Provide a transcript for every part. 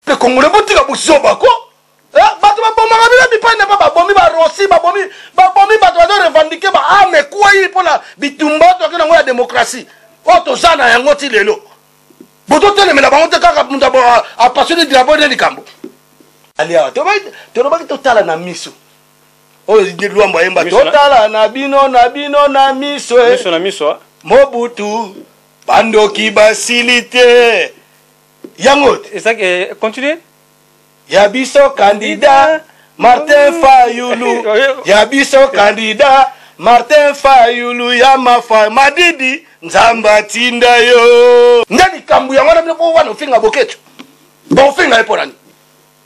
Pe congolais botika buzoba ko. Eh, bato babomaka bino bipai na bipai babomi barosi babomi babomi bato bazo revendike ba arme ah, ekwei mpo na bitumba oyo toyaki nango ya demokrasi oyo oh, toza na yango ti lelo bototelemela bango te kaka moto apasoni drapo nde likambo aliawa tolobaki totala na miso oyo oh, lwambo ayemba totala na bino na bino na miso eh. miso na miso ah. mobutu bandoki basili te yango eh, continue ya biso candidat martin fayulu ya biso candidat martin fayulu ya mafa madidi nzambe atinda yo nde likambo yango na bino po wana ofinga boketo baofinga ye mpo nani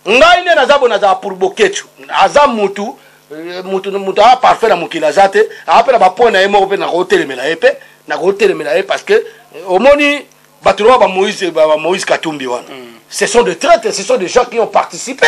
ngai nde naza bo nazala pour boketshu aza mutu euh, mutu mutu aa parfait na mokili aza te aa mpe na bapoint na ye moko mpe nakotelemela ye mpe nakotelemela ye parce que euh, omoni bato loba bamoïse bamoïse katumbi wana mm. ce sont de traite ce sont des gens qui ont participé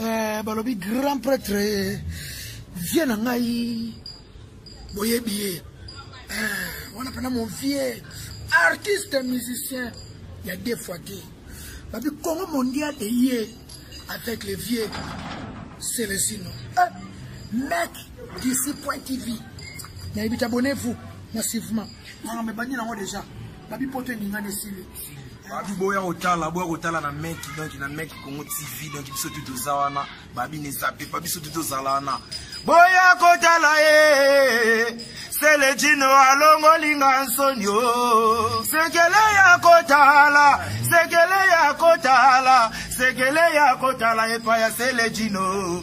eh, balobi grand pretre eh, vie na ngai boyebi ye eh, wana mpena mon vie artiste musicien ya deux fois te babi congo mondial eye avec le vieux celesino eh, mec d'ici point tv nayebi tabonnez vous massivement nanga mebandi nango déjà babi poto eningani esili babi boya kotala boya kotala na meki donc na meki congo tv donc biso tu toza wana babi ne zape pa biso tu tozala wana boya kotala ye selejino alongolinga nsoni o sekele ya kotala sekele ya kotala sekele ya kotala epai ya selejino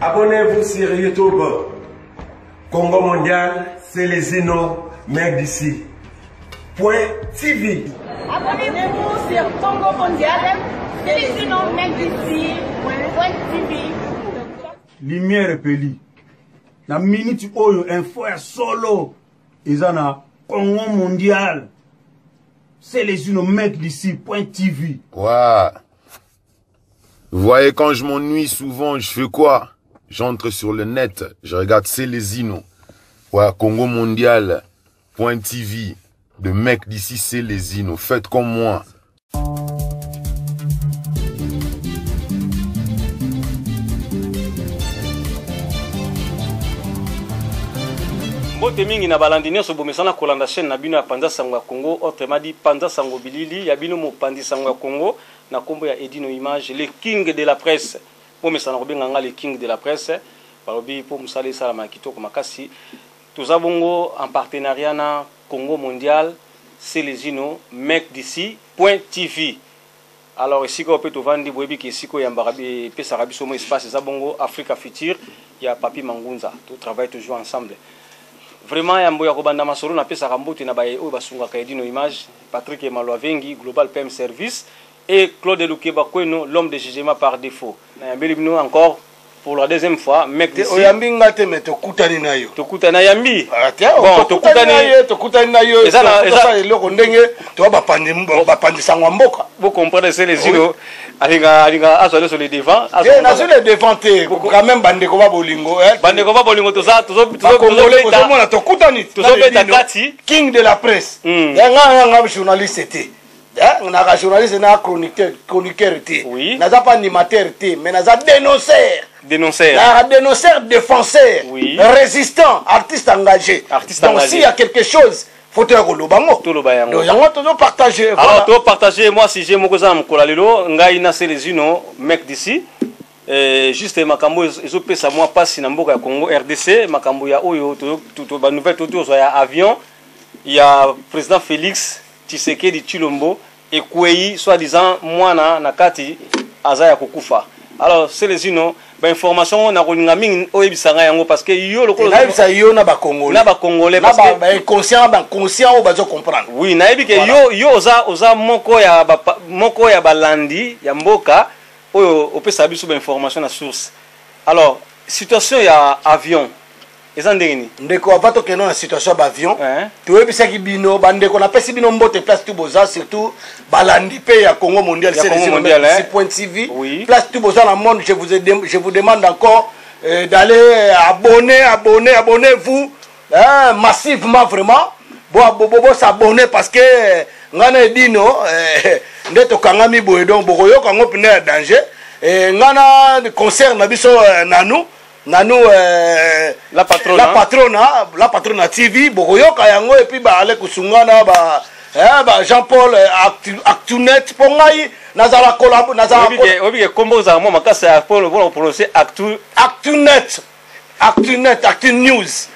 Abonnez-vous sur YouTube. Congo Mondial, Celezino, Mère d'ici. Point TV. Abonnez-vous sur Congo Mondial, Celezino, Mère d'ici. Point TV. Lumière epeli. Na minute oyo info ya solo eza na Congo Mondial. Celezino, Mère d'ici. Point TV. Wow. Vous voyez, quand je m'ennuie souvent, je fais quoi J'entre sur le net, je regarde Célésino. Voilà, Congo Mondial, Point TV, de mecs d'ici Célésino. Faites comme moi. mbote mingi na balandi nyonso bomesana kolanda chaîne na bino ya panza sango ya congo autrement dit panza sango bilili ya bino mopanzi sango ya congo na kombo ya edino image le king de la presse bomesana kobenga nga le king de la presse balobi po mosala esalama kitoko makasi toza bongo en partenariat na congo mondial celezino mec d'ici point tv alors esika oyo pe tovandi boyebi ke esika oyambaka epesaka biso mo espace eza bongo africa future ya papi mangunza to travaille toujours ensemble vraiment yambo ya kobanda masolo napesaka mbote na baye oyo basungaka edino image Patrick Maluavengi, Global PM Service, et Claude Lukeba Kweno, l'homme de jugement par defaut. Nayambeli bino encore pour la deuxième fois mec d'ici. Oyambi nga te mais tokutani na yo. Tokutani na yambi. Ah, bon, tokutani na yo, tokutani na yo. Eza na eza eloko ndenge to ba pandi ba pandi sangwa mboka. Vous comprenez c'est les îlots. alinga alinga azwa nyonso le devant eh, nazwi le devant te quand même bandeko ba bolingo eh. bandeko ba bolingo toza tozomona tokutani tozobeta kati king de la presse hmm. eh, nga nga nga journaliste te naka journaliste na chroniqueur te naza mpe animateur te mais naza dénonceur dénonceur naka dénonceur défenseur résistant artiste engagé donc s'il y a quelque chose faut te koloba yango toloba yango donc yango tozo partager voilà. alors to partager moi sujet moko eza na mokolo ya lelo ngai na Celezino mec d'ici Eh, juste makambo ezopesa mwa mpasi na mboka ya congo rdc makambo ya oyo banouvelle tozwa ya avion ya président félix tshisekedi tshilombo ekueyi soit disant mwana na kati aza ya kokufa alors selezino ba information ngo nakolinga mingi oyebisa ngai yango parce que yo lokola nayebisa yo na ba congolais na ba congolais parce que ba inconscient ba conscient oyo bazo comprendre oui nayebi que yo yo oza oza moko ya ba moko ya balandi ya mboka oyo opesa biso ba information na source alors situation ya avion eza ndenge nini ndeko ava tokende na situation ya baavion eh. toyebisaki bino bandeko napesi bino mbote place tu boza surtout balandi mpe ya congo mondial cdc point tv place tu boza na monde je vous, je vous demande encore euh, d'aller euh, abonner abonner abonner vous hein, massivement vraiment bosabonne parce que euh, ngai na edino euh, nde tokangami boye donc bokoyoka yango mpena ya danger ngai na concert na biso nanu nanu euh, la patrona la patrona la patrona TV bokoyoka yango epi ba ale kusungana ba eh, ba Jean Paul euh, actu, actunet po ngai nazala collabo nazala obike kombo za mo makasa ya polo polo prononcer actu actunet actunet actu news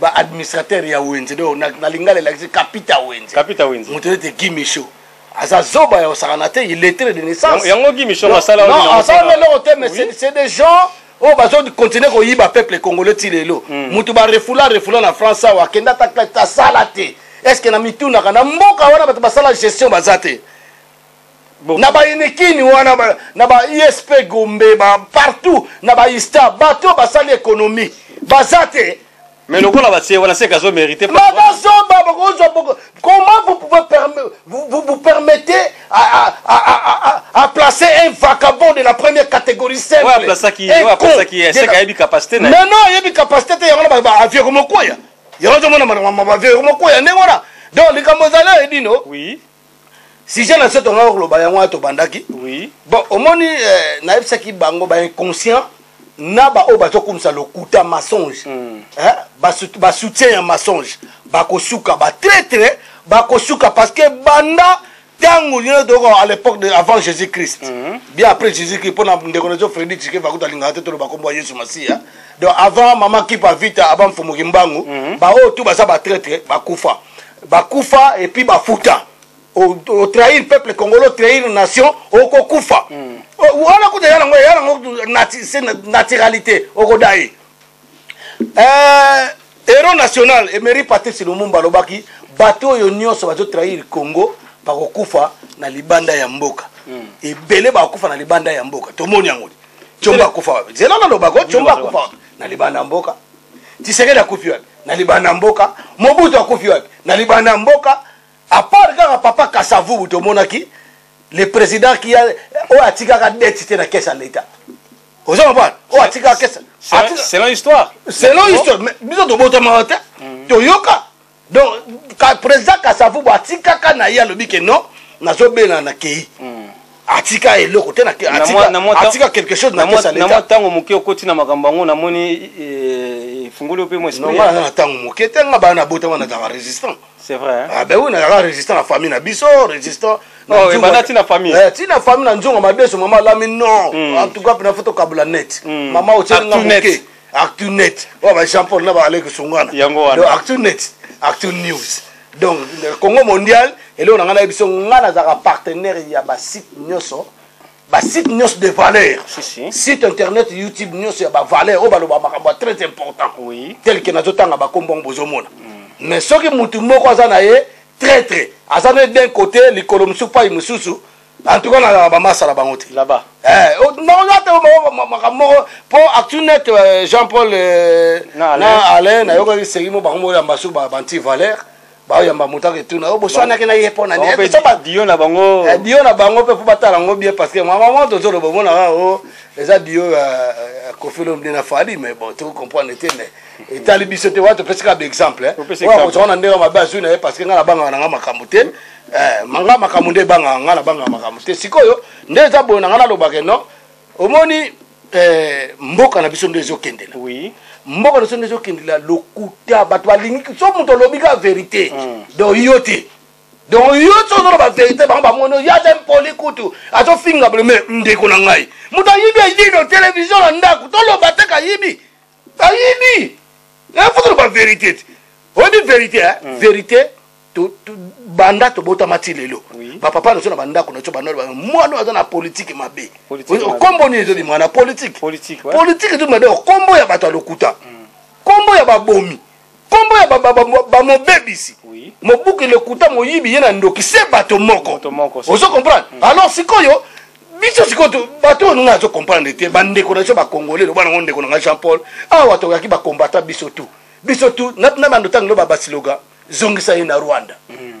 ba administrateur ya wenze donc na, na lingala elakisi kapita wenze kapita wenze moto ete gimisho aza zoba ya osakana te illettre de naissance yango gimisho asala non asala eloko te mais oui. c'est des gens oyo oh, bazo continue koyiba peuple congolais ti lelo moto hmm. barefula refula na france awa akende ata asala te est ce que na mitunaka na mboka wana bato basala gestion baza te na bayinikini wana ba, na ba isp gombe ba partout na ba ista bato basali ekonomi baza te mais lokola batie wana seka azo mérite bazoba bakozwa comment vous pouvez vous, vous, vous permettez à, à, à, à, à, à placer un vagabond de la première catégorie simple ouais, aplasaki, ouais, aplasaki, seka ayebi capacité na non non ayebi capacité te yango na bavioko mokoya yango ozomona mavioko mokoya ndenge wana donc likambo ezali edino oui sujet na biso tongaki koloba yango wana tobandaki oui. bon omoni eh, nayebisaki bango bainconscient na baoyo bazokumisa lokuta mensonge mm. eh, basoutien ba ya mensonge bakosuka batraitre bakosuka parce que banda ntango lino toyoka à l'époque de avant jésus christ mm -hmm. bien après jésus christ mpo na ndeko na biso fredi tike vakuta alingaka te toloba nkombo ya yesu masiya donc avant mama kipa vita aba mfumu kimbangu mm -hmm. baoyo tu baza batraitre bakufa bakufa et puis bafuta otrahir peuple congolais otrahir nation okokufa mm. wana kuta ya nango ya nango se naturalité okodai euh, héros national emery patrice lumumba alobaki bato oyo nyonso bazotrahir congo bakokufa na libanda ya mboka mm. ebele bakokufa na libanda ya mboka tomoni yango comba akufa zela nalobako comba akufa na libanda ya mboka tisekedi akufi wapi na libanda ya mboka mobutu akufi wapi na libanda ya mboka apart kaka papa kasavubu tomonaki le président ki oyo atikaka deti te na kese ya leta ozo comprendre oyo atikaka kese selon histoire selon histoire biso tobotamaka te toyoka donc ka, président kasavubu atikaka na ye alobi ke non nazobela na kei mm. atika eloko te atika quelque chose na mwa ntango moke okoti na makambo yango namoni eh, efungoli yo mpe mwa esprina na ntango moke te nga bana nabota wana nazalaka résistant c'est vrai ah ben oui nazalaka résistant na famille na biso résistant oh, ebanda ntina famille eh, ntina famille na nzongo madeso mama alami non hmm. en tout cas mpe na foto kabula net hmm. mama otieli nga moke actunet oyo ba jean paul na ba alek sungana yango wana donc actunet actu news donc congo mondial eloko na ngai nayebi so ngai nazalaka partenaire ya basite nyonso basite nyonso de valeur si, si. site internet youtube nyonso ya bavaleur oyo baloba makambo ya très important oui. tel ke nazotanga bakombo yango bozomona mm. mais soki motu moko aza na ye traitre aza na ye d'un côté likolo mosusu pai mosusu en tout cas nazalaka bamasa na bango te là-bas eh, oh, naoza te makambo moko mpo actunet euh, jean paul euh, na alain nayokaki segi mo bango moko ya mbasu banti valeur baoyamba moto aka etuna yo boswanaki na ye mpo na ndio na bango eh, dio na bango mpe mpo batala yango bien parce que mamama tozoloba omonaka o oh, eza dio ya euh, kofilo mde na fali mais bon toki comprendre te mais etali biso te wana topesaka baexemple oyo akozala na ndenge mabe azwi na ye parce que ngai nabangaka na ngai makambo te eh, manga makambo nde ebangaka ngai nabangaka makambo te sikoyo nde eza boye na ngai nalobaka no omoni eh, mboka na biso nde ezokendela oui. mboka na biso nde ezokendela lokuta bato balingi so moto olobi kaka verité mm. donc yo te donc yo so ozoloba verité bango bamoni oyo aza impoli kutu azofinga bleme ndeko na ngai moto ayibi ayino televizio na ndako toloba te kayibi ayini eh, fotoloba verité te oyebi verité eh? mm. verité banda tobotama ti lelo bapapa na biso na bandako na biso bandola mwana oyo aza na politike mabe okombo nini ezobima na politike politike ezobima de okombo ya bato ya lokuta nkombo mm. ya babomi kombo ya bamobebisi mobuki lokuta moyibi ye na ndoki se bato moko ozo comprendre mm. alors sikoyo biso sikoyo bato oyo nga azo comprendre te bandeko na biso bacongolais loba nango ndeko na nga jean paul awa toyaki bakombata biso tu biso tu na bando ntango lo babasiloga zongisa ye na rwanda mm.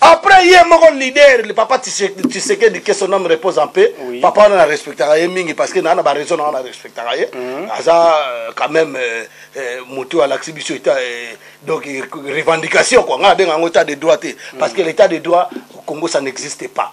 après ye moko leader le papa tshisekedi que son homme repose en paix oui. papa wana na respectaka ye mingi parce que naa na baraison nanga na respectaka ye mm. aza euh, quand même euh, euh, motu alakisi biso eta euh, donc revendication kua ngai abenga yango état de droit te mm. parce que l'état de droit congo ça n'existe pas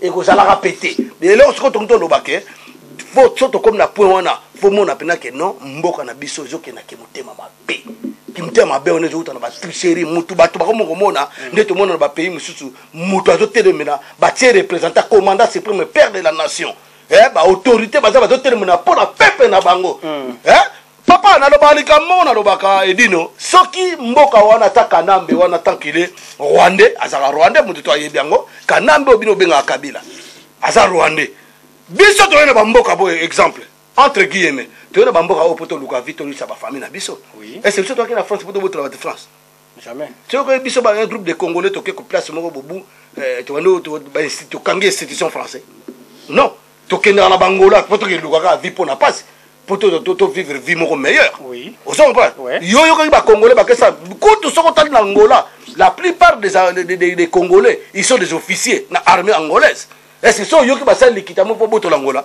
ekozalaka mpe te eloko sikoyo tokoki toloba ke fo so tokomi na point wana fomona mpena ke non mboka na biso ezokenda ke motema mabe kimotema mabe wana ezowuta na batricherie motu bato bakomi komona nde tomona na bapays mosusu moto azotelemela batie représentant commandant supreme père de la nation eh, baautorité baza bazotelemela mpo na pepe na bango hmm. eh, Papa naloba likambo moko nalobaka edino soki mboka wana ata kanambe wana tant qu'il est rwandais azalaka rwandais moto to ayebi yango kanambe oyo bino obengaka kabila aza rwandais biso toyei na bamboka boye exemple entre guillemets toyei na bamboka oyo mpo toluka vi tolisa bafamille na biso oui. ese biso toyaki na france mpo tobotola batu france jamais soki biso ba groupe de congolais toke ko place moko bobu eh, tokangi institution français non tokendaka na bangola mpo tokelukaka vie mpo na mpasi mpo tovivre vie moko meilleure ozo comprendre yo oyokaki bacongolais bakesa kutu soki otali na angola la plupart des, euh, des, des, des congolais ils sont des officiers na armée angolaise est ce que so oyoki basali likita moko mpo botola angola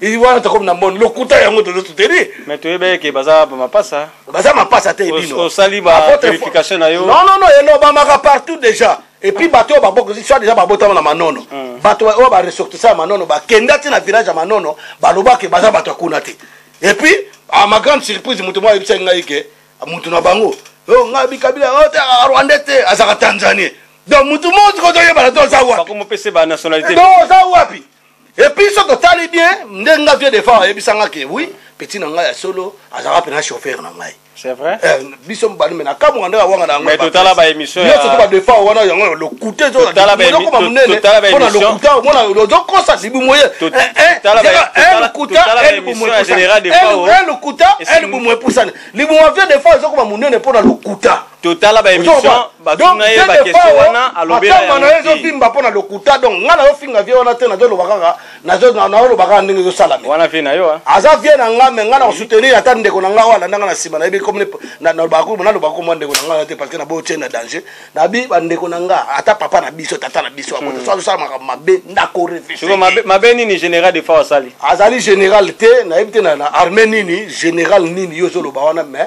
Il wana tokomi na mboni lokuta yango tozo soutenir mais toyebaki ke baza mapasa baza mapasa te bino osali ba verification na yo non non non elobamaka partout déjà et puis bato oyo babokisi soit déjà babotama na manono hmm. bato oyo baressortissa ya manono bakenda ti na village ya manono balobaki baza bato ya kuna te et puis à ma grande surprise moto moko ayebisaki ngai ke moto na bango oh, ngai bikabila oh, rwandais te azalaka tanzanie donc moto mosi kozoyebana to oza wapi oza wapi Et puis soki totali bien ndenge nga vieux defa ayebisa nga ke oui petit na ngai ya solo azalaka mpena chauffeur na ngai c'est vrai eh, biso mobali me nakamwa nde awanga na yango totala baémission nyonso to badefa wana yango lokute ezokoma monene mpona lokuta omona ozokosa libu moye lokuta lokuta libu moye epusani libu mavie defa ezokoma monene mpona lokuta totala ba émission batuna ye ba question wana alobela yango na ezo vimba pona lokuta donc nga na yo finga vie wana te nazo loba kaka nazo na yo loba kaka ndenge ezo sala me wana vie na yo aza vie na nga me nga na soutenir ata ndeko na nga wala ndanga na sima na yebi comme na na loba ko na loba ko mwa ndeko na nga te parce que na bo tien na danger na bi ba ndeko na nga ata papa na biso tata na biso akoto hmm. so sala makambo mabe ndako réfléchir siko mabe mabe nini général de fois asali azali général te na yebi te na armée nini général nini yo zo loba wana mais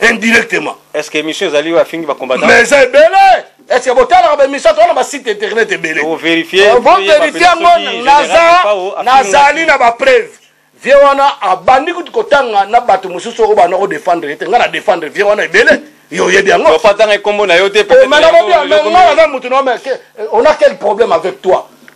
indirectement est ce que émission ezali oyo afingi bacombattant mais eza ebele est ce que botalaka baémission to wana basite internet ebele boverifie yango nazali na bapreuve vie wana abandi kutu kotanga na bato mosusu oyo bana odefendre ye te ngai na defendre vie wana ebele yo oyebi yango opatanga ekombo na yo te omena bobi amenga aza motu na omeke on a quel problème avec toi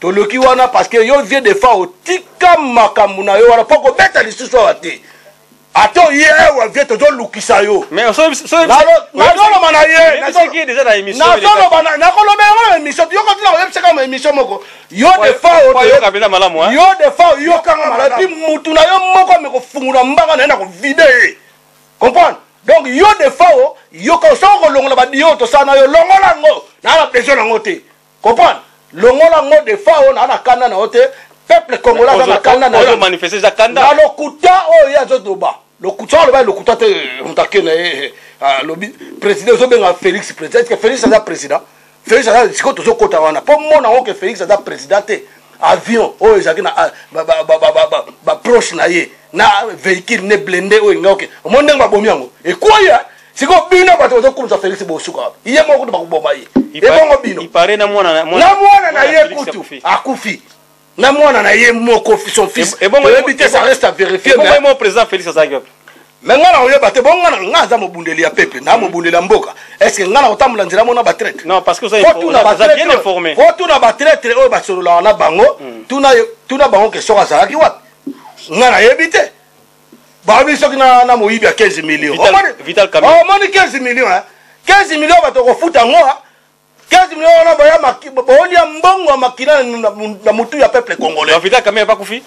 toluki wana parce que yo vieux de fao tika makambo na yo wana mpo kobeta lisusu awa te ata oye ewa vie tozolukisa yo nazoloba na ye nazoloba nakolobela yango na émission yoko tina koyebisaka ma émission moko yo defaoyo defao yokanga malamu epi mutu na yo moko amekofungula mbanga na ye na kovide ye comprendre donc yo defao yoka osoko kolongola badiyo tosala na yo longola yango naa na besoin na yango te Comprendre? Longola ngo de fa ona na kanda na ote peuple congolais aza na kanda na yo manifester eza kanda na lokuta oyo ya zo doba lokuta aloba lokuta te mutake na ye lobi president zo benga Felix president que Felix aza president Felix aza siko tozo kota wana po mona ngo que Felix aza president te avion oyo ezalaki na baproche na ye na véhicule ne blende oyo engaoke omoni ndenge babomi yango ekwei sikoyo bino bato bazokumisa felix bosuka wapi ye moko kutu bakoboma ye ebongo bino na mwana na ye kutu akufi na mwana na ye moko son fils oyebi te ça reste à vérifier mais président félix azalaki wapi me ngai na koyeba te bongo ngai ngai aza mobundeli ya pepe na mobundeli ya mboka estce ngai na kotambola nzela mona batraitretuna batraitre oyo basololaka na bango tuna bango ke soki azalaki wapi ngai nayebi te babi soki na, na moyibi ya 15 million omoni 15 million hein? 15 million bato okofuta yango 15 million wana boyolia mbongo ya makila na motu ya peuple congolais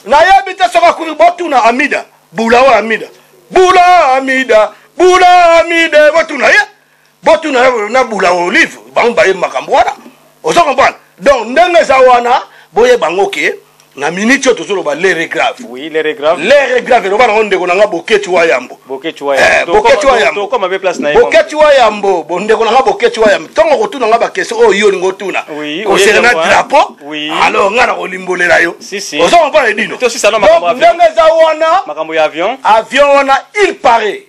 nayebi te soki akufi botuna amida bula oyo amida bula amida bula amida botuna ye botuna na, na bula olive bango bayebi makambo wana ozo comprendre donc ndenge eza wana boye bango ke na miniti oyo tozoloba lere grave oui, lere grave lere grave eloba nango ndeko na nga boketi wa yambo boketi wa yambo eh, boketi wa yambo bondeko na nga boketi wa yambo ntongo kotuna nga bakestion oyo yo olingi otuna concerne drapeau alors nga na kolimbolela yo ozo comprendre edino ndenge eza wana avion wana il paraît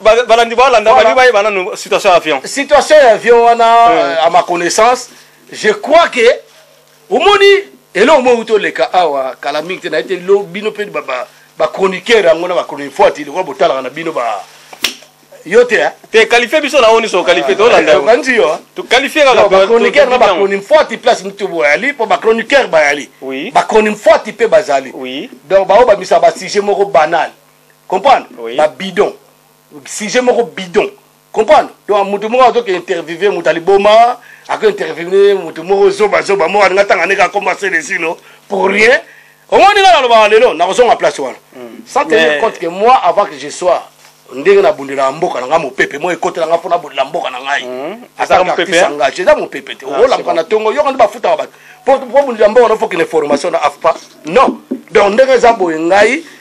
balandi balanda balingi bayeba nanu situation ya avion situation ya avion wana à ma connaissance je crois que omoni eloko moko euti oleka awa kala mingi te naye te lo bino mpe bachroniqueur yango na bachronifuati lokola botalaka na bino ba yo te te qualifie biso na oni so qualifie tolanda yo banzi yo to qualifie kaka ba chroniqueur na ba chronifuati place mutu boyali po ba chroniqueur bayali ba chronifuati mpe bazali donc baoyo bamisa ba sujet moko banal comprendre oui. ba bidon sujet moko bidon comprendre donc moto moko azoke interviewe moto aliboma ako interviewe moto moko zobazoba moko alinga ntanga ndenge akoma selesino pour rien omoni nga nalobaka lelo nakozonga place wana hmm. sans tenir compte que moi avant que je sois ndenge nabundelaka mboka na ngai mopepe moi ekotela ngai mpo nabundela mboka na ngai hmm. asaartisengage eza mopepe te ah, olamuka na ntongo yoka nde bafutaka bato mpo bundela mboka na fokende formation na afpa non donc ndenge eza boye ngai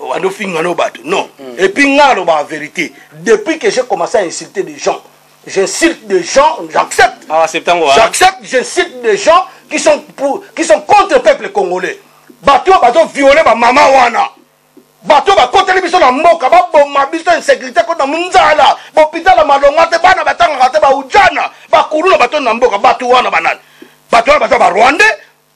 obandi ofinga no bato non mm. et puis nga nalobaka vérité depuis que j'ai commencé à insulter des gens j'insulte des gens j'accepte ah, hein. j'accepte j'insulte des gens qui sont, pour, qui sont contre peuple congolais bato oyo bazoviole bamama wana bato oyo bakoteli biso na mboka baboma biso insécurité kota nzala bopitala malonga te bana batangaka te baujana bakulu na bato na mboka bato wana banani bato wana baza barwandais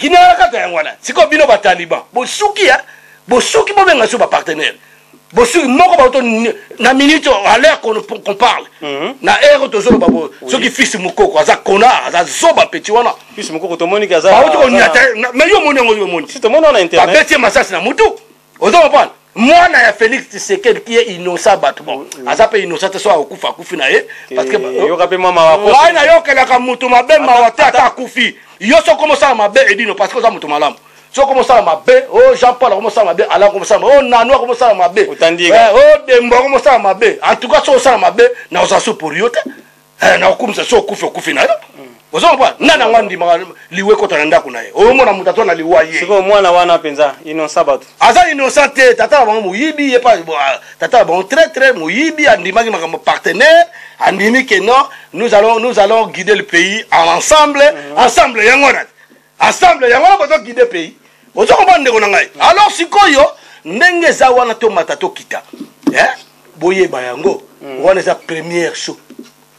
Ginara kaka yango wana. Siko bino ba Taliban. Bosuki ya. Bosuki bobenga so ba partenaire. Bosuki moko ba auto na minute à l'heure qu'on qu'on parle. Mm -hmm. Na heure to zolo babo. Oui. Soki fils mukoko aza connard, aza zoba petit wana. Fils mukoko to moni kaza. Ba auto on yata. Mais yo moni ngo yo moni. Si to moni on internet. Ba bête masasi na mutu. ozo comprendre mwana ya félix tshisekedi qui est innocent bato bon mm, mm. aza mpe innocent te so akokufa akufi na ye ngai nayokelaka moto mabe mawa te ata akufi yo soki omosala mabe edino parce que oza moto malamu soki omosala mabe o oh, jean paul akomosala mabe alan komosala mabe o oh, nanu akomosala mabe o eh, oh, dembo akomosala mabe en tout cas soki osala mabe nakozala so pour yo te eh, nakokumisa so okufi okufi na yo mm. ozo comprendre nga nango andimaka liwa ekota na ndako na ye oyomona moto atwa na liwa ye sikoyo mwana wana mpenza innocent bato aza innocent te tata na bango moyibi ye pa ah, tata na bango très très moyibi andimaki makambo partenaire andimi ke non nous allons, nous allons guider le pays ensemble mm -hmm. ensemble yango wana Assemble yango wana bozo guider pays. Ozo comprendre ndeko na ngai. Mm. Alors sikoyo ndenge eza wana to mata to kita. Hein? Boyeba yango. Mm. Wana eza première show.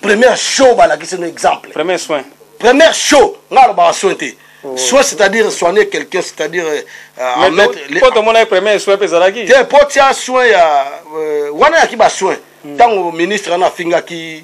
Première show balakisi no exemple. Premier soin. Première show ngalo ba soin te. Oh. soit c'est-à-dire soigner quelqu'un c'est-à-dire euh, euh mettre les pote mon aïe premier soin pe zalaki te pote ya soin ya euh, wana ya ki ba soin hmm. tango ministre na finga ki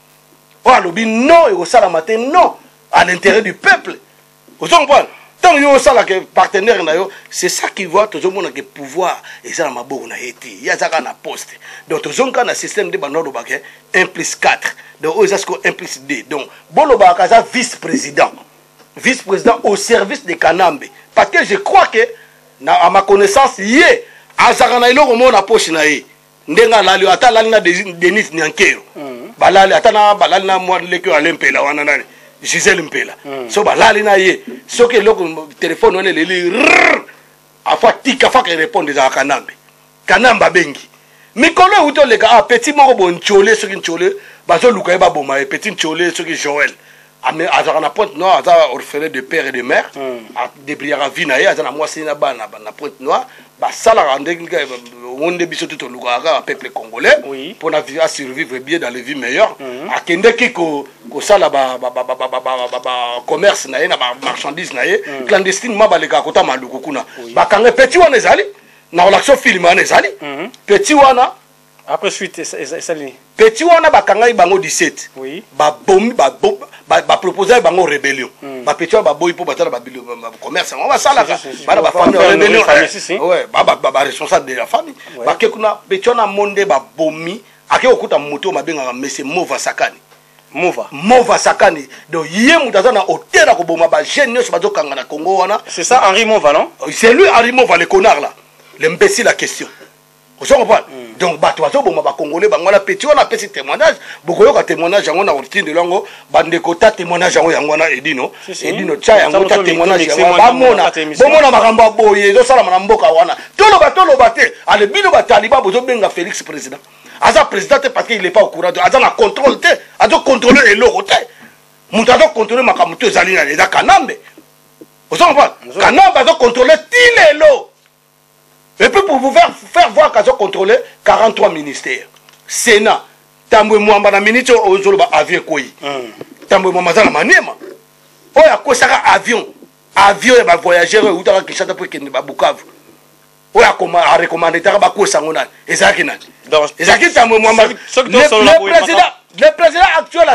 oyo alobi non ekosalama te non à l'intérêt du peuple ozo comprendre ntango yo osalaka partenaire na yo c'est ça qui voit tozomona ke pouvoir eza na maboko na ye te ye aza kaka na poste donc tozongi kaka na système nde bando alobaka 1 plus 4 donc oyo eza sikoyo 1 plus 2 donc bolobaka aza vice président vice président au service de kanambe parce que je crois que na, à ma connaissance ye azalaka na eloko moko na poche na ye ndenge alali ata alali na denis nyankero mm. balali ata na balali na mwa leki oyo ale mpela wana nani gisele mpela mm. so balali na ye soki eloko telefone wana eleli afo atika faka erepondre ezala kanambe kanambe abengi mikolo euti oleka a ah, petit moko bo ncole soki ncole bazoluka ye baboma ye petit ncole soki joel ame azalaka na pointe noire aza orphelin de père et de mère hmm. adebriyaka vie na ye aza na mwasi na bana na pointe noire basalaka ndenge yango nde biso te tolukaka kaka peuple congolais mpo na asurvivre bien dans le vie meilleur hmm. akendeki kosala bacommerce na ye na bamarchandise na ye hmm. clandestinement balekaka kota maluku kuna bakanga petit wana ezali na relation film wana ezali petit wana Après suite esali nini? Petit wana bakangaki bango 17. Oui. Ba bomi ba ba, ba proposer bango rébellion. Mm. Ba petit wana ba boyi po batala ba commerce yango basala ka. Bana ba famille rébellion. Eh, ouais, ba ba, ba, ba responsable de la famille. Ouais. Ba kekuna petit wana monde ba bomi. Ake okuta moto mabengaka monsieur Mova Sakani. mova mova sakani donc ye moto aza na hotel ya koboma bajeune nyonso bazokanga na congo wana c'est ça henri mova non c'est lui henri mova le connard là l'imbécile la question ozo comprendre mm. donc bato bazoboma bacongolais bango wana petit wana apesi témoignage bokoyoka témoignage yango na kotindelo yango bandeko ta témoignage yango yango wana edino edino tya yango ta témoignage yango bamona bomona makambo ya boye ezosalama na mboka wana toloba toloba te ale bino bataliba bozobenga félix président aza président te parce qu'il est pas au courant aza na contrôle te azocontrôle eloko te moto azocontrôle makambo to ezali na eza kanambe ozo comprendre kanambe azocontrôle ti lelo et puis pour vous faire, faire voir qu'azo contrôler 43 ministères sénat tambwe mwamba na minute oyo ozoloba avion ekwei hmm. tambwe mwamba aza na maniema oyo akwesaka avion avion ya bavoyageur oyo eutaka kinshasa mpo ekende babukavu oyo arekomandetaka bakwesa yango nani ezalaki nani ezalaki tambwe mwamba le président actuel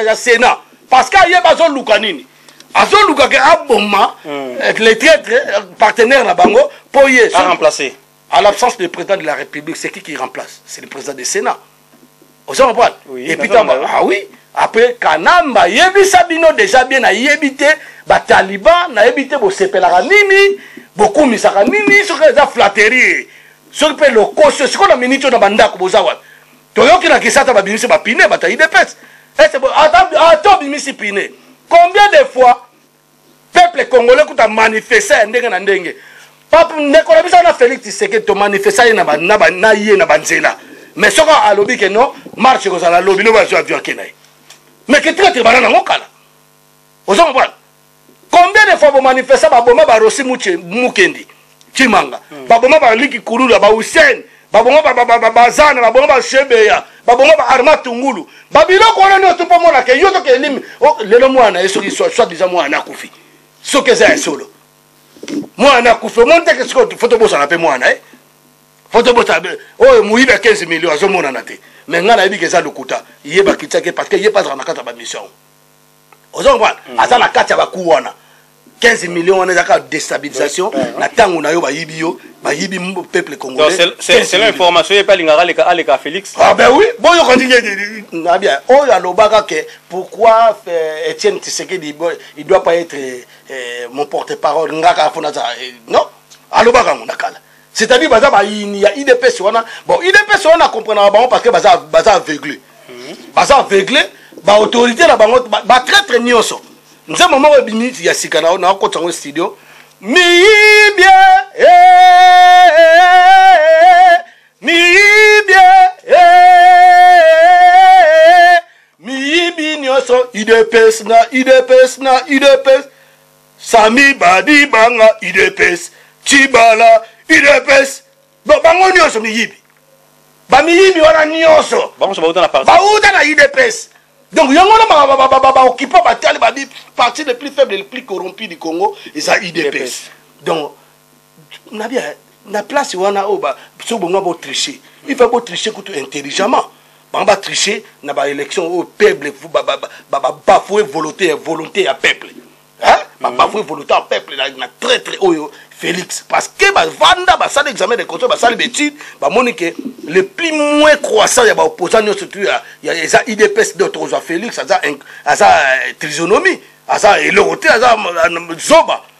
ya sénat parce que ayeba azoluka nini azoluka ke aboma hmm. eh, le traitre eh, partenaire na bango mpo ye remplacer à l'absence du président de la république c'est qui qui remplace c'est le président du sénat ozo comprendre oui, epuis ah oui après kanamba ayebisa bino déjà bien nayebi te bataliban nayebi te bosepelaka nini bokumisaka nini soki eza flatterie soki mpe lokoso sikoyo na miniti oyo na bandako boza wapi toyoki na kisata babimisi bapine bato ya idps ese ata ah, obimisi pine combien de fois peuple congolais kuta manifesta ya ndenge na ndenge pape ndeko na biso na félix tshisekedi tomanifesta ye na ye na banzela mais soki alobi ke non marche ekozala lobi lobi azwi avion ake na ye mais ke traite bana nango kala oza mobwana combien de fois bomanifesta baboma barosi mukendi cimanga hmm. baboma baliki kululu ya bahussein baboma bazana baboma bashebeya baboma baarma tungulu babiloko wana nyonso mpo omonaka yo soki elimi oh, lelo mwana ye soki soit disa mwana akufi soki eza ya solo mwana akufi omoni teke soki fo tobosana mpe mwana e eh? fo tobosana oyo oh, moyibi ya 15 million azomonana te me ngai nayebika eza lokuta ye bakitiaki parce que ye mpe azalaka na kati ya bamission ozo comprendre mm. aza na kati ya baku wana 15 millions wana ezaka destabilisation na ntango na yo bayibi yo bayibi peuple congolaisselon information ye mpe alingaka aleka aleka félix ah ben oui boyoka ndenge na bien oyo alobaka ke pourquoi euh, étienne tisekedi il doit pas être euh, mon porte parole ngaka mpo naza euh, non alobaka yango na kala c'est-à-dire baza bayini ya idps wana bon idps wana comprenaka bango parce que baza, baza aveugle mhm. baza aveugle baautorité na bango batraitre nyonso nzembo moko ebimi ya sika nakokotisa yango studio miyibie eh, eh, eh, miyibie miyibi nyonso idps na idps na idps Sami Badibanga udps Tshibala udps donc bango nyonso miyibi bamiyibi wana nyonso bauta na udps donc yango wana baokipa batali babi parti le plus faible le plus corrompu du congo eza udps donc nabia na place wana oyo soki bongo botriche il faut botriche kutu intelligemment bango batriche na baélection oyo peuple babafoue volonté ya volonté ya peuple babafoue mhm. volonté ya peuple na traitre oyo félix parce que bavanda basali examen de contrôle basali bétude bamoni ke le plus moins croissant ya baopposant nyonso tu eza idps d'autre ozwa félix aza euh, trisonomie aza eloko te aza euh, zoba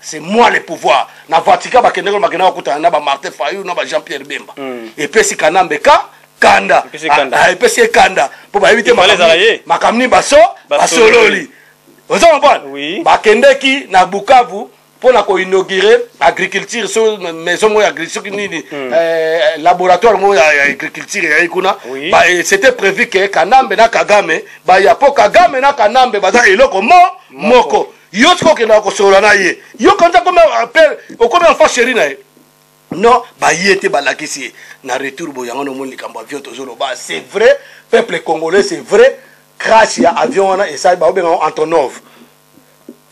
c'est moi le pouvoir na vatican bakendeki na bakendaki bakutana na ba martin fayou na ba jean pierre bemba mm. epesi kanambe ka kanda epesi ye kanda ah, ah, mpo bayebi te makambo nini baso basololi oza comprendre bakendeki na bukavu mpo na koinaugure agriculture so maison moko ya agriculture nini hmm. eh, laboratoire moko ya agriculture eyai kuna eh, c'était prévu ke kanambe na kagame baya mpo kagame na kanambe baza eloko mo moko yo sikoyo okendaka kosolola na ye yo kanza komi appel okomi enfant chéri na ye non baye te balakisi ye na retour boye yango nomoni likambo avion tozoloba c'est vrai peuple congolais c'est vrai crash ya avion wana esali baobenga yango antonov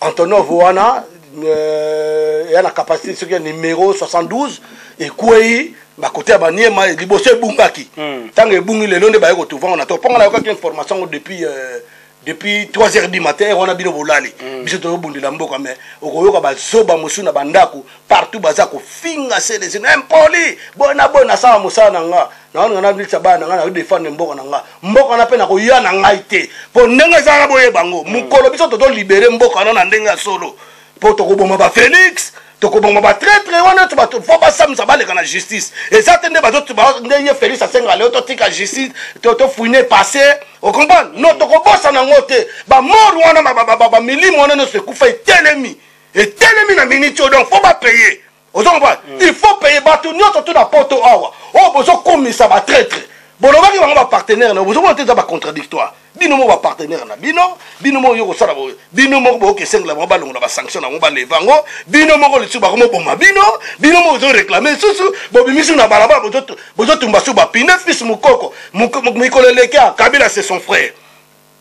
antonov wana euh, eya na capacité soki ya numero 72 ekwei bakote ya baniema liboso ebungaki ntango hmm. ebungi lelo nde baye kotuvango na to mpo nga nayokaki information ngo depuis euh, depuis 3 heures du matin heure wana bino bolali mm. biso tozobundela mboka mais okoyoka bazoba mosusu na bandako partout baza kofinga selesi na impoli boye na boye nasala mosala na nga naoninga nabilisa bana na ngai nakodefendre mboka na nga mboka wana mpe nakoya na ngai te mpo ndenge ezalaka boye bango mm. mokolo biso tozolibere mboka wana na ndenge ya solo mpo tokoboma ba félix tokoboma ba traitre wana to bato fo basamisa baleka na justice eza te nde bato nde ye félix asenga leo totika justice tofouine passé ocomprendre no tokobosana yango te bamor wana bamilimo wana nyonso ekufa etelemi etelemi na miniti oyo donc fo bapaye ozo comprendre mm. il faut paye bato nyonso to na poto awa oyo oh, bozokumisa batraitre bolobaki bango bapartenaire na yo bozomona te eza bacontraditoire bino moko bapartenaire na bino bino moko yo kosala boye bino moko boyoka esengela bango balongola basanction na bango baleva yango bino moko lisusu bakomoboma bino bino moko ozoreklame lisusu bobimisi na balabala bozotumba su bapine fils mokoko mikolo eleki akabila se son frère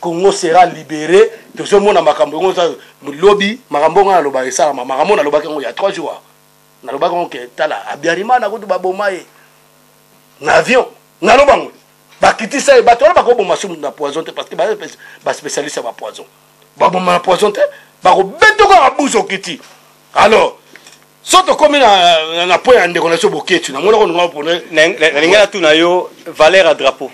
Congo sera libere tozomona makambo yango oza lobi makambo yango naloba esalama makambo nalobaki yango ya 3 jours nalobaki yango ke tala abiarimana kutu baboma ye na avion naloba yango bakitisa ye bato wana bakoboma sumu na poison te parce que baspécialiste ya bapoison baboma na poison te bakobeta kaka buzo okiti alors so tokomi na point ya ndeko na biso boketsu namonaka ndonga pone nalingi natuna yo valeur ya drapeau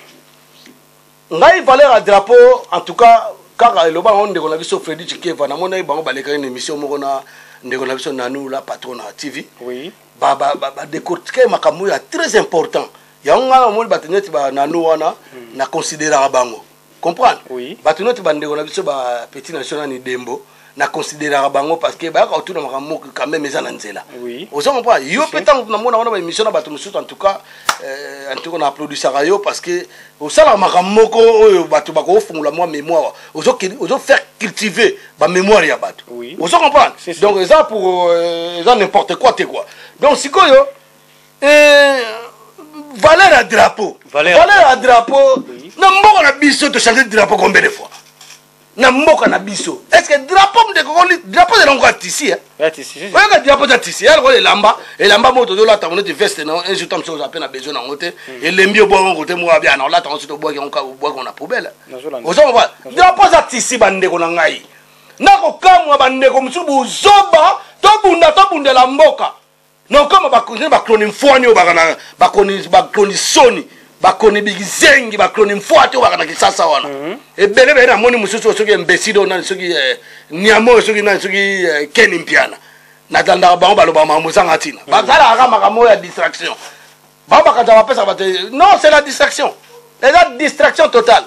Ngai valeur ya drapeau en tout cas kaka eloba yango ndeko na biso Freddy Chikeva na monaki bango balekaki na émission moko na ndeko na biso Nanou la patron na TV. Oui. Ba ba ba, ba décortiquer makambo ya très important. Yango ngai na moni bato neti ba Nanou wana hmm. na considéraka bango. Comprendre? Oui. Bato neti ba ndeko na biso ba petit national ni Dembo. na consideraka bango parce que bayaka kotuna makambo moko quand même eza na nzela oza comprendre yo mpe ntango namona wana baémission na bato mosusu en tout cas euh, en tout cas na applaudisaka yo parce que osalaka makambo moko oyo bato bakofungola mwa mémoire ozo faire cultiver bamémoire ya bato ozo comprendre donc eza pour euh, eza n'importe quoi te quoi donc sikoyo euh, valeur ya drapeau valeur ya drapeau na mboka na biso tochange drapeau combien de fois na mboka na biso est ce que drapeau mdekokoli drapeau ezala ngo ya tisi oyaka drapeau eza tisi ya lokola elamba elamba moko tozolata ngo neti veste na un jour ta mosusu oza mpe na besoin nango te hmm. elembi obwaka ngo te moko abia na olata ngo soki obwaki yango kaka obwaki ngo na poubele oza koba drapeau eza tisi bandeko na ngai nakokamwa bandeko mosusu bozoba tobunda tobundela mboka non koma bakoni bakoni mfwani oyo baka na bakoni bakoni soni bakoni bikizengi bakoni mfwati oyo baka na kisasa wana mhm. ebele bele namoni mosusu soki embeside oyo nani soki eh, niama oyo soki nani soki eh, keni mpiana natandaka bango balobaka makambo ezanga ntina mhm. bazalaka kaka makambo oyo ya distraction bango bakanisa bapesaka bato non c'est la distraction eza distraction totale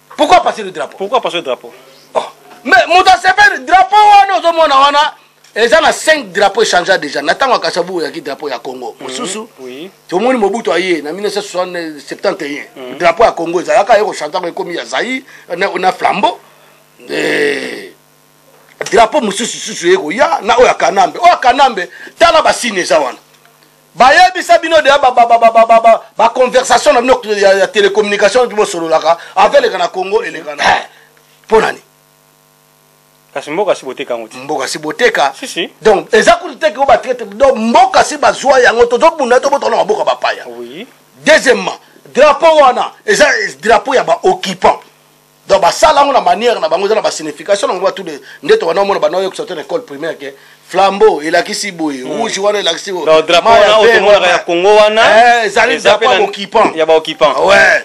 pourquoi passer le drapeau pourquoi passer le drapeau oh. mais moto asepeli drapeau wana ozomona wana eza na 5 drapeau echangea déjà na ntango ya kasabu oyaki drapeau ya congo mhm. mosusu tomoni mobutu aye na 1971 mhm. drapeau ya congo ezalaka ye kochantaka ekomi ya zai na flambeau drapeau mosusu susu ye koya na oyo ya kanambe oyo ya kanambe tala basini eza wana bayebisa bino deya baconversation na bino ya télécommunication oki bosololaka ava eleka na congo elekana mpo eh, nani kasi mboka si boteka yango te mboka si boteka si, si. donc eza kutu teke o batraite donc mboka si bazwa yango tozobunda tobotana maboka bapaya oui. deuxièmement drapeau wana eza drapeau ya baoccupant donc basala yango na manière na bango eza na basignification na bango batu de nde tobanda omona banda oyokisa te na école primaire ke flambeau elakisi boye hmm. rouge wana elakisi boyeomonaka ya congo wana eh, ezali drapo ya baoccupant ya baoccupant ouais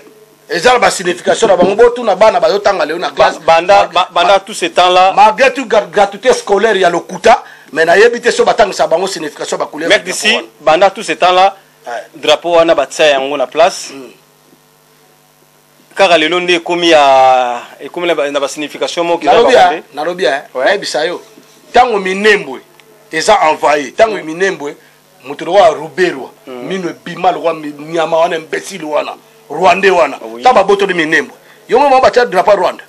eza na basignification na bango botuna bana bazotanga lelo na classe banda banda tout ce temps là malgré tout gratuité scolaire ya lokuta mais nayebi te so batangisa bango signification bacouleur mec d'ici banda tout ce temps là drapeau wana batia yango na place hmm. kaka lelo nde ekomi ya ekomi na ba signification moko nalobi ya nalobi ya nayebisa yo tango minembwe eza envaye tango mm. minembwe moto lokola ruberwa mm. mino ebima lokola nyama wana imbecile wana rwandais wana ah ta babotoli minembwe yo moko batia drapo rwanda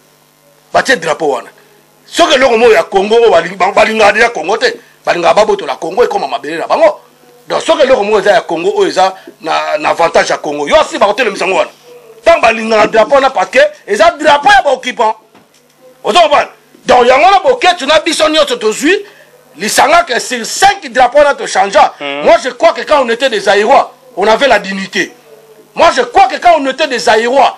batie drapeau wana soki eloko moko ya congo oyo balingaka deja congo te balingaka babotola congo ekoma mabele na bango donc soki eloko moko eza ya congo oyo eza na, na avantage ya congo yo asi bakotelemisa yango wana ntango balingaka drapeau wana parce que eza drapeau ya baoccupant ozo comprendre donc yango wana boketsu na biso nyonso tozwi lisanga que sur 5 drapeau wana tochangea hmm. moi je crois que quand on était des aérois on avait la dignité moi je crois que quand on était des aérois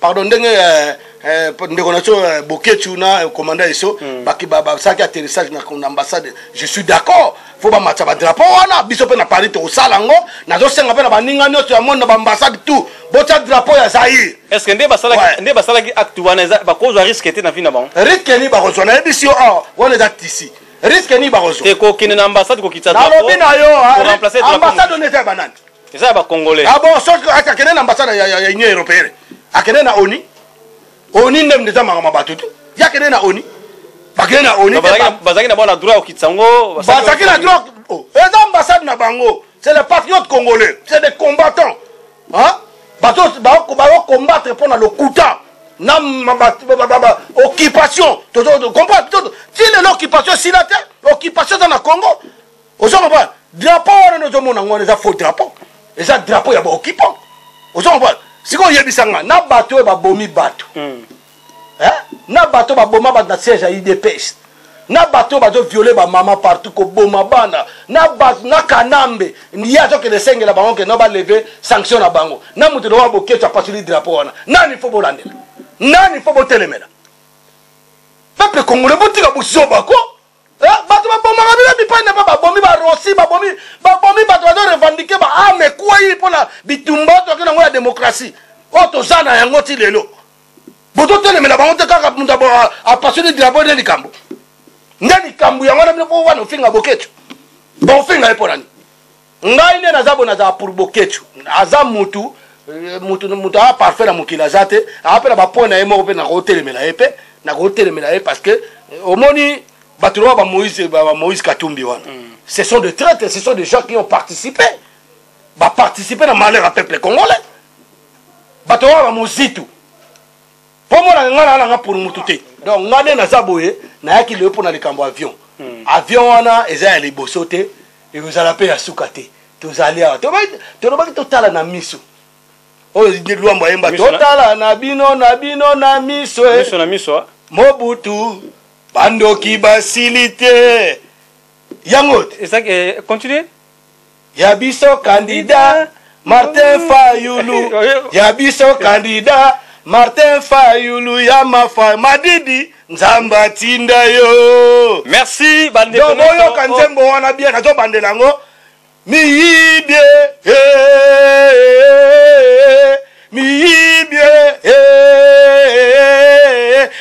pardon ndenge eh, eh, ndeko na biso eh, boketshu na commanda eso mm. basalaki atterrissage na ambassade je suis d'accord fo bamatisa badrapo wana biso mpe na paris tokosala yango nazosenga mpe na baninga nyonso ya monde na baambassade tout botya drapo ya zaire estce nde basalaki acte wana bakozwa riske te na vi na bango riske nini bakozwa nayebisi yo awa wana eza tisi riske nini bakozwa ekokende na ambassade kokitisa nalobi na yo ambassade ona eza ya banani eza ya bacongolais ah bon soki akende na ambassade ya union européenne akende na oni oni nde mnde eza makambo bato tu ye akende na oni bakende na oni bazalaki na bona droit ya kokitisa yango bazalaki na droit oh, eza ambassade na bango c'est les patriotes congolais c'est des combattants bato bakokombattre mpo na lokuta na occupation comprendre ti lelo occupation esila te occupation eza na congo ozo comprendre drapeau wana nde ozomona ngo wana eza faux drapeau eza drapeau ya baoccupant ozo comprendre sikoy oyebisa nga na bato oyo babomi bato hmm. eh? na bato baboma bato na siège ya udps na bato oyo bazoviole bamama partout koboma bana na bato na kanambe ye azokende esengela bango kenda baleve sanction na bango na moto lokola boketso apasoli drapeau wana nani fo bolandela nani fo botelemela peuple congolais botika buzoba ko Eh, bato babomaka bino bipai na bipai babomi barosi babomi babomi bato bazo revendike baame ekwei mpo na bitumba oyo toyaki nango ya demokrasi oyo toza na yango ti lelo bozotelemela bango te kaka moto apasoni drapo nde likambo nde likambo yango na bino mpo wana ofinga boketio baofinga ye mpo nani ngai nde naza bo nazala pour boketshu aza mutu euh, mutu mutu aa parfait na mokili aza te aa mpe na bapoint na ye moko mpe nakotelemela ye mpe nakotelemela ye parce que euh, omoni bato loba bamoïse bamoïse katumbi wana mm. ce sont des traites ce sont des gens qui ont participé baparticipe na malheur ya peuple congolais bato loba bamozitu kombo na ngai naa nanga ponu mutu te donc ngai nde naza boye nayaki lelo mpo na likambo avion hmm. avion wana eza ya liboso te ekozala mpe ya suka te tozali awa tolobaki totala na miso oyo lwambo ayemba totala na bino na bino na miso eh. mobutu bandoki basili te yango te eh, continue Ya biso candidat Martin Fayulu Ya biso candidat Martin Fayulu ya mafa madidi Nzambe atinda yo Merci bande Donc boyoka nzembo wana bien nazo bandela yango miyibie eh, miyibie eh,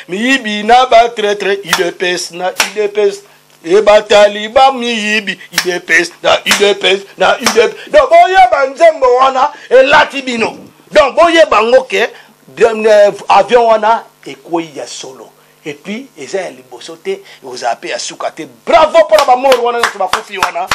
miyibi na ba traitre idps na idps ebatali bamiyibi udps na udps na udps donc boyeba nzembo wana elati bino donc boyeba ngo ke euh, avion wana ekwei ya solo epuis eza ya liboso te ekozala mpe ya suka te bravo mpo na bamor wana nyonso bakufi wana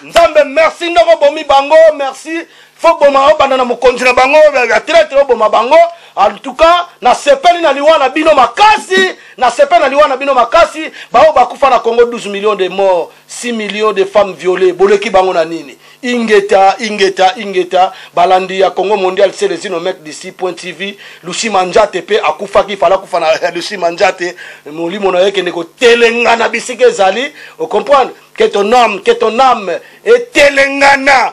nzambe merci ndoko bomi bango merci fo boma obanda na mokonzi na bango ya tretre oboma bango en tout cas nasepeli na liwa na bino makasi nasepeli na liwa na bino makasi baoyo bakufa na congo 12 millions de morts 6 millions de femmes violées boleki bango na nini ingeta ingeta ingeta balandi ya congo mondial selezino mek dc point tv lusi manjate mpe akufaki fala akufa na lusi manjate molimo na yo ekende kotelengana bisika ezali ocomprendre ke ton ame ke ton ame etelengana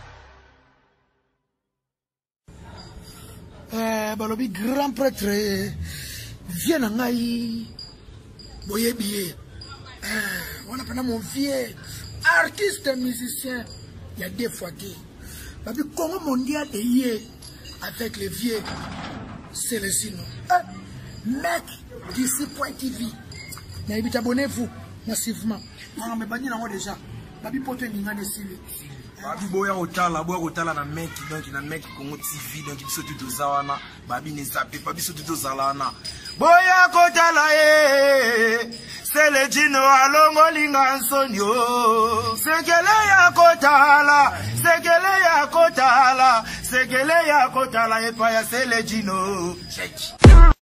eh, balobi grand pretre vie na ngai boyebi ye eh, wana mpena mon vieux artiste musicien ya deux fois te babi congo mondial eye avec le vieux celesino eh, mec d'ici point tv nayebi tabonnez vous massivement nanga mebandi nango déjà babi poto eningani esili babi boya kotala boya kotala na meki donc na meki congo tv donc biso tu toza wana babi ne zape pa biso tu tozala wana boya kotala ye selejino alongolinga nsoni o sekele ya kotala sekele ya kotala sekele ya kotala epai ya selejino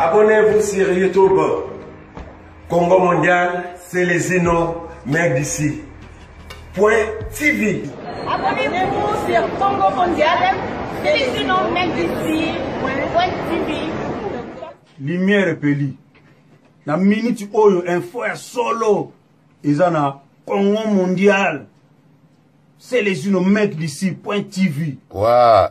Abonnez-vous sur YouTube. Congo Mondial, Celezino, Mère d'ici. Point TV. Abonnez-vous sur Congo Mondial, Celezino, Mère d'ici. Point TV. Lumière epeli. Na minute oyo info ya solo eza na Congo Mondial. Celezino, Mère d'ici. Point TV. Wow.